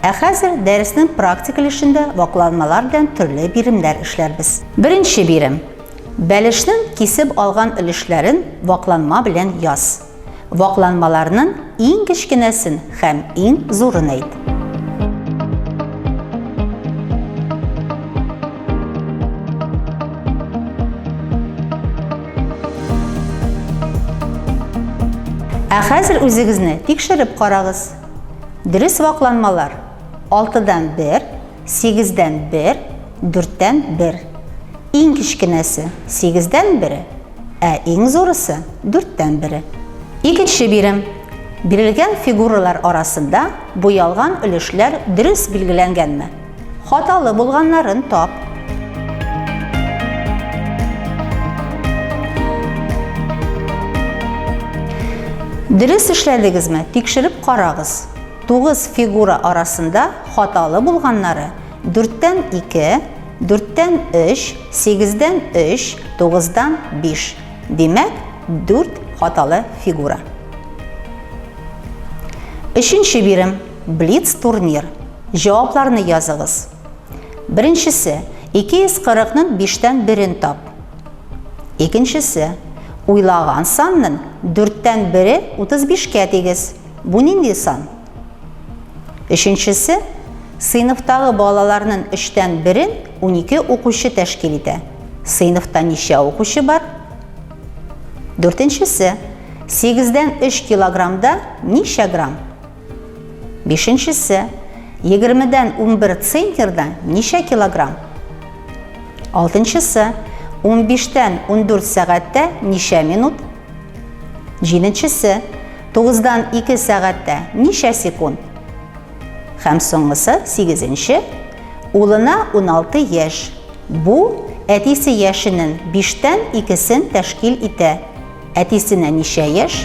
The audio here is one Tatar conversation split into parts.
Ә хәзер дәреснең практик өлешендә вакланмалар белән төрле биремнәр эшләрбез. Беренче бирем. Бәлешнең кисеп алган өлешләрен вакланма белән яз. Вакланмаларның иң кечкенәсен һәм иң зурын әйт. Ә хәзер үзегезне тикшереп карагыз. Дөрес вакланмалар 6 дан 1, Сигездән бер, дүрттән бер. Иң кечкенәсе, сигездән бере, ә иң зурысы, дүрттән бере. Икенче бирем. Бирелгән фигуралар арасында буялган өлешләр дөрес билгеләнгәнме? Хаталы булганнарын тап. Дөрес эшләдегезме? Тикшереп карагыз. Тугыз фигура арасында хаталы булганнары, дүрттән ике, дүрттән өч, сигездән өч, тугыздан биш. Димәк, дүрт хаталы фигура. Өченче бирем, блиц-турнир. Җавапларны языгыз. Беренчесе, 240-ның биштән берен тап. Икенчесе, уйлаган санның дүрттән бере 35-кә тигез. Бу нинди сан? Өченчесе, сыйныфтагы балаларнын өчтән берен унике укучы тәшкил итә. Сыйныфта ничә укучы бар? Дүртенчесе, сигездән өч килограммда ничә грамм? Бишенчесе, егермедән унбер центнерда ничә килограмм? Алтынчысы, унбиштән ундүрт сәгатьтә ничә минут? Җиденчесе, тугыздан ике сәгатьтә ничә секунд? Һәм соңгысы, сигезенче, улына уналты яшь. Бу, әтисе яшенен биштән икесен тәшкил итә. Әтисенә ничә яшь?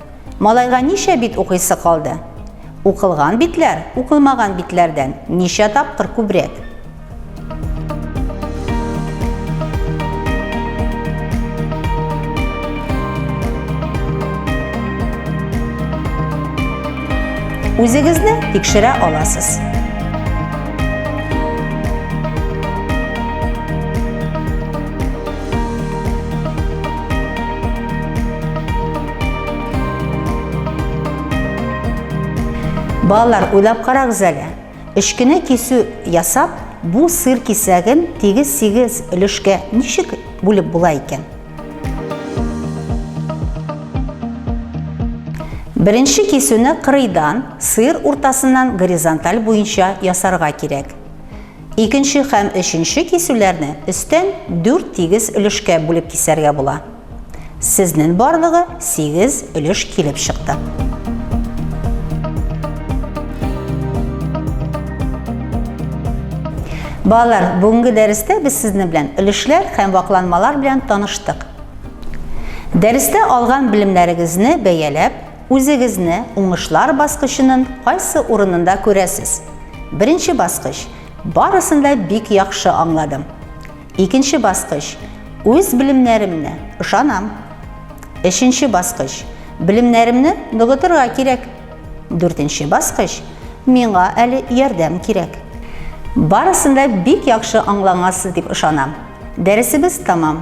Малайга ничә бит укыйсы калды? Укылган битләр укылмаган битләрдән ничә тапкыр күбрәк? Үзегезне тикшерә аласыз. Балалар, уйлап карагыз әле. Өшкене кисү ясап, бу сыр кисәген тигез-сигез өлешкә ничек бүлеп була икән? Беренче кисүне кырыйдан, сыр уртасыннан горизонталь буенча ясарга кирәк. Икенче һәм өченче кисүләрне өстән дүрт тигез өлешкә бүлеп кисәргә була. Сезнен барлыгы сигез өлеш килеп чыкты. Балалар, бүгенге дәрестә без сезне белән өлешләр һәм вакланмалар белән таныштык. Дәрестә алган белемнәрегезне бәяләп, Үзегезне уңышлар баскычынын кайсы урынында күрәсез? Беренче баскыч, барысын да бик яхшы аңладым. Икенче баскыч, үз белемнәремне ышанам. Өченче баскыч, белемнәремне ныгытырга кирәк. Дүртенче баскыч, миңа әле ярдәм кирәк. Барысын да бик яхшы аңлангансыз дип ышанам. Дәресебез тәмам.